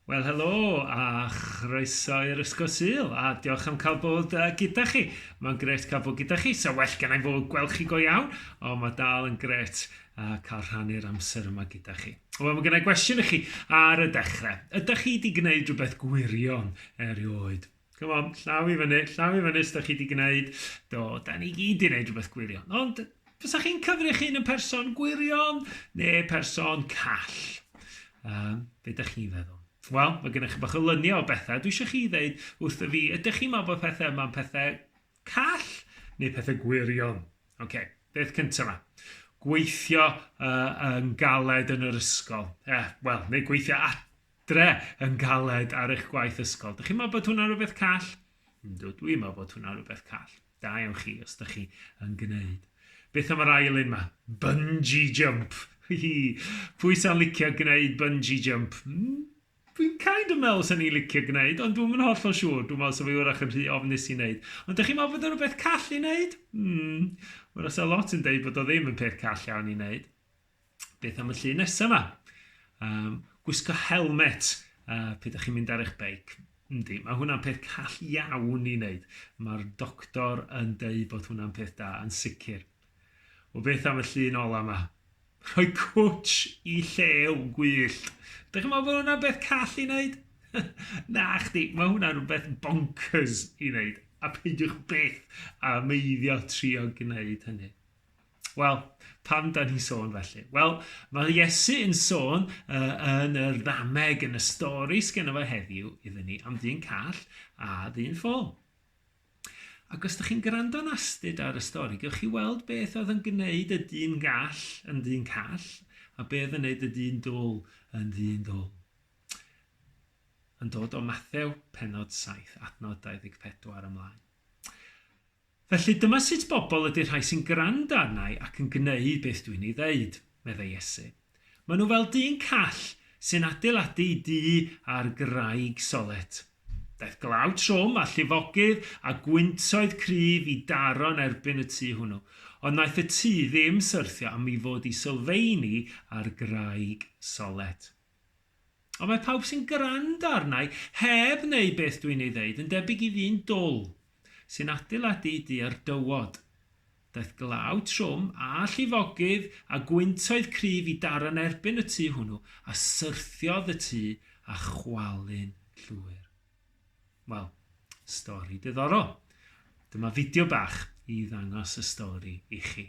Wel, helo a chroeso i'r Ysgol Sul, a diolch am cael bod uh, gyda chi. Mae'n gret cael bod gyda chi, so well gen i fod gweld chi go iawn, ond mae dal yn gret uh, cael rhannu'r amser yma gyda chi. Wel, mae gen i gwestiwn i chi ar y dechrau. Ydych chi wedi gwneud rhywbeth gwirion erioed? Come on, llaw i fyny, llaw i fyny os da chi wedi gwneud. Do, da ni gyd wedi gwneud rhywbeth gwirion. Ond, fysa chi'n cyfrif chi'n yn person gwirion neu person call? Um, be da chi'n feddwl? Wel, mae gennych chi bach o lyniau o bethau. Dwi eisiau chi ddeud wrth y fi, ydych chi'n meddwl bod pethau yma'n pethau Call neu pethau gwirion. OK, beth cyntaf yma. Gweithio uh, yn galed yn yr ysgol. Eh, Wel, neu gweithio adre yn galed ar eich gwaith ysgol. Dych chi'n meddwl bod hwnna'n rhywbeth call? Ynddo, dwi'n meddwl bod hwnna'n rhywbeth call. Da iawn chi os ydych chi yn gwneud. Beth am yr ail un yma? Bungee jump. Pwy sy'n licio gwneud bungee jump? Hmm? Dwi'n kind of meddwl 'sen i'n licio gwneud, ond dwi'm yn hollol siŵr, dwi'n meddwl 'sa fi wrach yn rhy ofnus i wneud. Ond dych chi'n meddwl bod o'n rhywbeth call i wneud? Hmm, wrach 'sa lot yn deud bod o ddim yn peth call iawn i wneud. Beth am y llun nesaf yma? Um, gwisgo helmet uh, pryd ydych chi'n mynd ar eich beic. Yndi, mae hwnna'n peth call iawn i wneud. Mae'r doctor yn deud bod hwnna'n peth da, yn sicr. Wel beth am y llun ola yma? Rhoi cwtsh i llew gwyllt. Dych chi'n meddwl bod hwnna'n beth call i wneud? Na chdi, mae hwnna'n rhywbeth bonkers i wneud. A peidiwch byth a meiddio trio gwneud hynny. Wel, pam da ni'n sôn felly? Wel, mae Iesu yn sôn uh, yn y ddameg, yn y stori sgen efo heddiw iddyn ni, am ddyn call a ddyn ffôl. Ac os ydych chi'n gwrando'n astud ar y stori, gewch chi weld beth oedd yn gwneud y dyn gall yn ddyn call, a beth oedd yn gwneud y dyn dwl yn ddyn dwl. Yn dod o Mathew, penod 7, adnod 24 ymlaen. Felly dyma sut bobl ydy'r rhai sy'n gwrando arna i ac yn gwneud beth dwi'n ei ddeud, meddai Iesu. Maen nhw fel dyn call sy'n adeiladu ei dŷ ar graig solet. Daeth glaw trwm a llifogydd a gwyntoedd cryf i daro yn erbyn y tŷ hwnnw, ond wnaeth y tŷ ddim syrthio am ei fod hi sylfeini ar graig solet. Ond mae pawb sy'n gwrando arna i heb wneud beth dwi'n ei ddeud yn debyg i ddyn dwl sy'n adeiladu ei dŷ ar dywod. Daeth glaw trwm a llifogydd a gwyntoedd cryf i daro yn erbyn y tŷ hwnnw a syrthiodd y tŷ â chwalu'n llwyr. Wel, stori diddorol. Dyma fideo bach i ddangos y stori i chi.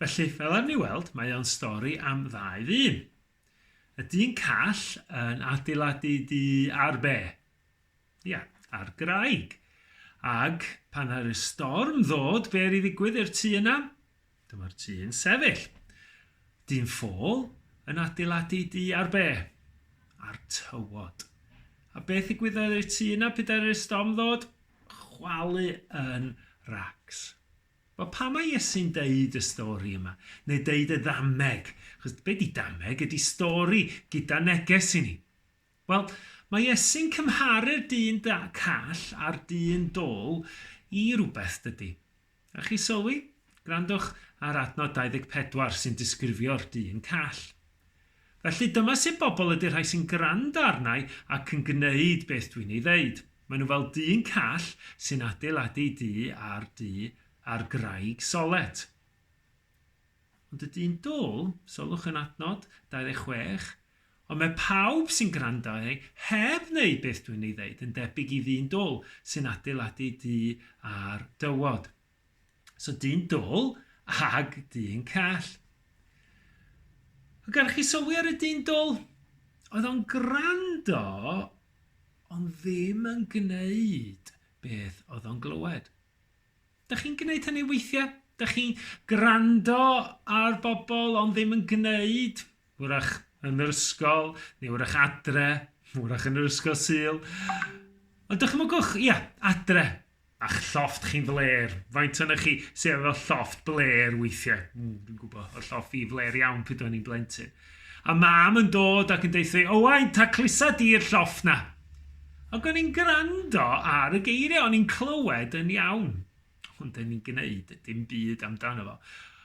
Felly, fel ar ni weld, mae o'n stori am ddau ddyn. Y dyn call yn adeiladu du ar be? Ia, ar graig. Ag pan ar y storm ddod, be ar i ddigwydd i'r tu yna? Dyma'r tu yn sefyll. Dyn ffôl yn adeiladu du ar be? Ar tywod. A beth ddigwyddodd i'r tu yna pryd ar y storm ddod? Chwalu yn rags. Wel, pam mae Iesu'n deud y stori yma, neu deud y ddameg? Achos be di dameg? Ydi stori gyda neges i ni. Wel, mae Iesu'n cymharu'r dyn da call a'r dyn dol i rywbeth, dydy. A chi sylwi? Gwrandwch ar adnod 24 sy'n disgrifio'r dyn call. Felly, dyma sut bobl ydy'r rhai sy'n gwrando arna'i ac yn gwneud beth dwi'n ei ddeud. Maen nhw fel dyn call sy'n adeiladu du ar du ar graig solet. Ond y dyn dwl, sylwch yn adnod 26, ond mae pawb sy'n gwrando arni heb wneud beth dwi'n ei ddeud yn debyg i ddyn dwl sy'n adeiladu du ar dywod. So dyn dwl ag dyn call. Ac gan chi sylwi ar y dyn dwl? Oedd o'n gwrando ond ddim yn gwneud beth oedd o'n glywed. Da chi'n gwneud hynny weithiau? Da chi'n gwrando ar bobl ond ddim yn gwneud? Wrach yn yr ysgol, neu wrach adre, wrach yn yr ysgol syl. Ond dychmygwch, ia, adre. A'ch llofft chi'n flêr. Faint ohonoch chi sydd efo llofft blêr weithiau? Mm, dwi'n gwybod, oedd llofft fi flêr iawn pryd o'n i'n blentyn. A mam yn dod ac yn deitha fi, Owain, ta clusa di'r llofft na? Ac o'n i'n gwrando ar y geiriau, o'n i'n clywed yn iawn. Ond o'n i'n gwneud dim byd amdano fo.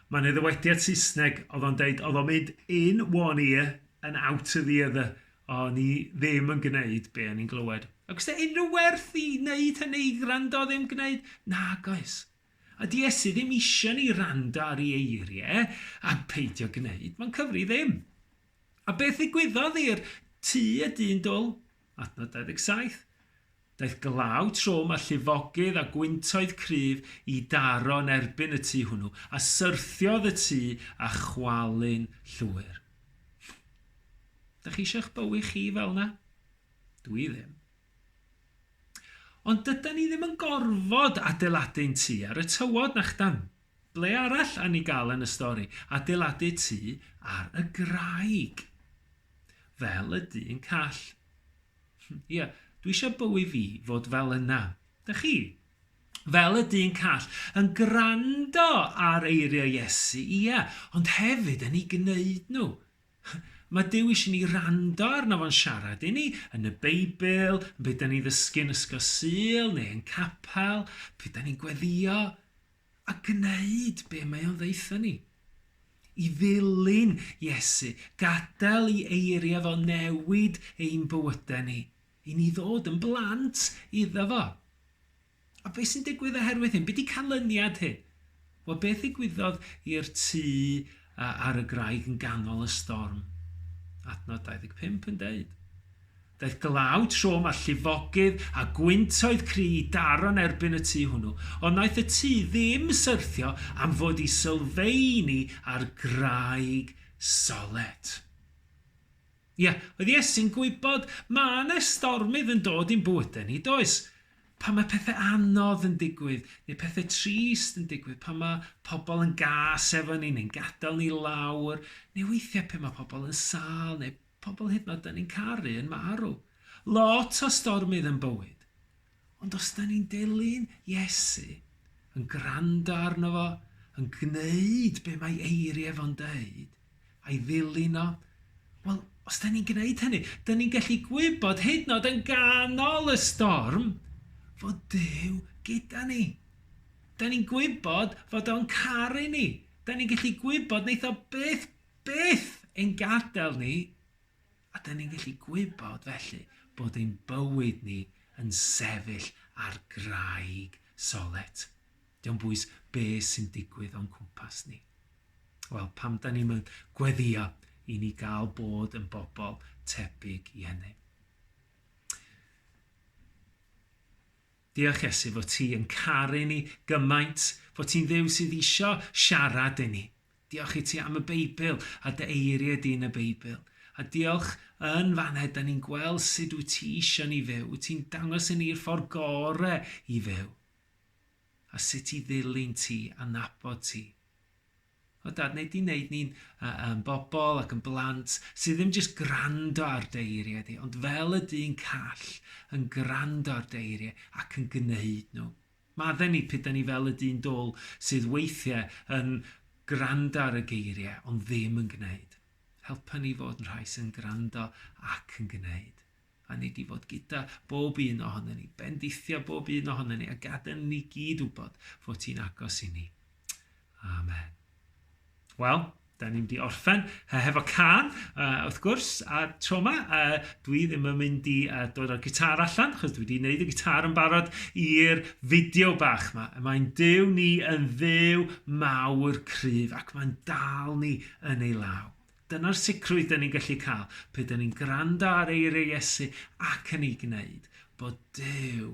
Mae yna ddywediad Saesneg oedd o'n deud, oedd o'n mynd in one ear and out of the other. O, ni ddim yn gwneud be o'n ni'n glywed. Ac os da unrhyw werth i wneud hynny, i gwrando ddim gwneud? Nag oes. A di Iesu ddim eisiau ni rando ar ei eiriau a peidio gwneud. Mae'n cyfri ddim. A beth ddigwyddodd i'r tu y dyn dwl? Adnod 27. Daeth glaw trwm a llifogydd a gwyntoedd cryf i daro yn erbyn y tŷ hwnnw, a syrthiodd y tŷ â chwalu'n llwyr. Ydych chi eisiau eich bywyd chi fel yna? Dw i ddim. Ond dyda ni ddim yn gorfod adeiladu'n tŷ ar y tywod, na chdan? Ble arall a ni gael yn y stori? Adeiladu tŷ ar y graig. Fel y dyn call. Ie, dwi eisiau bywyd fi fod fel yna. Dych chi? Fel y dyn call, yn gwrando ar eiriau Iesu, ie, ond hefyd yn ei gwneud nhw. Mae Dyw eisiau ni rando arno fo'n siarad i ni, yn y Beibl, yn beth da ni'n ddysgu yn Ysgol Sul neu yn capel, beth da ni'n gweddio. A gwneud be mae o'n ddaetho ni. I ddilyn Iesu, gadael i eiriau fo newid ein bywydau ni, i ni ddod yn blant iddo fo. A beth sy'n digwydd oherwydd hyn? Be di canlyniad hyn? Wel, beth ddigwyddodd i'r tŷ ar y graig yn ganol y storm? Adnod 25 yn deud. Daeth glaw trwm a llifogydd a gwyntoedd cry i Daron erbyn y tŷ hwnnw, ond wnaeth y tŷ ddim syrthio am fod i sylfeini ar graig solet. Ia, oedd Iesu'n gwybod mae 'na stormydd yn dod i'n bywydau ni, does? Pan mae pethau anodd yn digwydd, neu pethau trist yn digwydd, pan mae pobl yn gas efo ni neu'n gadael ni lawr, neu weithiau pan mae pobl yn sâl neu Pobl hyd yn oed 'da ni'n caru yn marw. Lot o stormydd yn bywyd. Ond os 'da ni'n dilyn Iesu, yn gwrando arno fo, yn gwneud be mae eiriau fo'n deud, a'i ddilyn o, wel, os 'da ni'n gwneud hynny, 'da ni'n gallu gwybod hyd yn oed yn ganol y storm fod Duw gyda ni. Da ni'n gwybod fod o'n caru ni. Da ni'n gallu gwybod wneith o byth Beth ein gadael ni, a dyn ni'n gallu gwybod felly bod ein bywyd ni yn sefyll ar graig solet. Diolch bwys be sy'n digwydd o'n cwmpas ni. Wel, pam da ni'n mynd gweddio i ni gael bod yn bobl tebyg i hynny. Diolch Iesu fod ti yn caru ni gymaint, fod ti'n ddew sydd eisiau siarad i ni. Diolch i ti am y Beibl a dy eiriau di yn y Beibl. A diolch yn faned, da ni'n gweld sut wyt ti eisiau ni fyw. Wyt ti'n dangos i ni'r ffordd gore i fyw. A sut i ddilyn ti a nabod ti. O dad, neu di wneud ni'n uh, um, bobl ac yn blant sydd ddim jyst grando ar deiriau di, ond fel y dyn call yn grando ar deiriau ac yn gwneud nhw. Madden i p'ydan ni fel y dyn dwl sydd weithiau yn gwrando ar y geiriau ond ddim yn gwneud. Helpa ni fod yn rhai sy'n gwrando ac yn gwneud. A nei di fod gyda bob un ohono ni, bendithio bob un ohono ni a gadael ni gyd wybod fod ti'n agos i ni. Amen. Wel, da ni'n di orffen uh, hefo can, uh, wrth gwrs, a tro yma, uh, dwi ddim yn mynd i uh, dod â'r gitar allan, chos dwi wedi gwneud y gitar yn barod i'r fideo bach yma. Mae'n dew ni yn ddew mawr cryf, ac mae'n dal ni yn ei law. Dyna'r sicrwydd dyn ni'n gallu cael, pe dyn ni'n gwrando ar eiriau Iesu ac yn ei gwneud, bod dew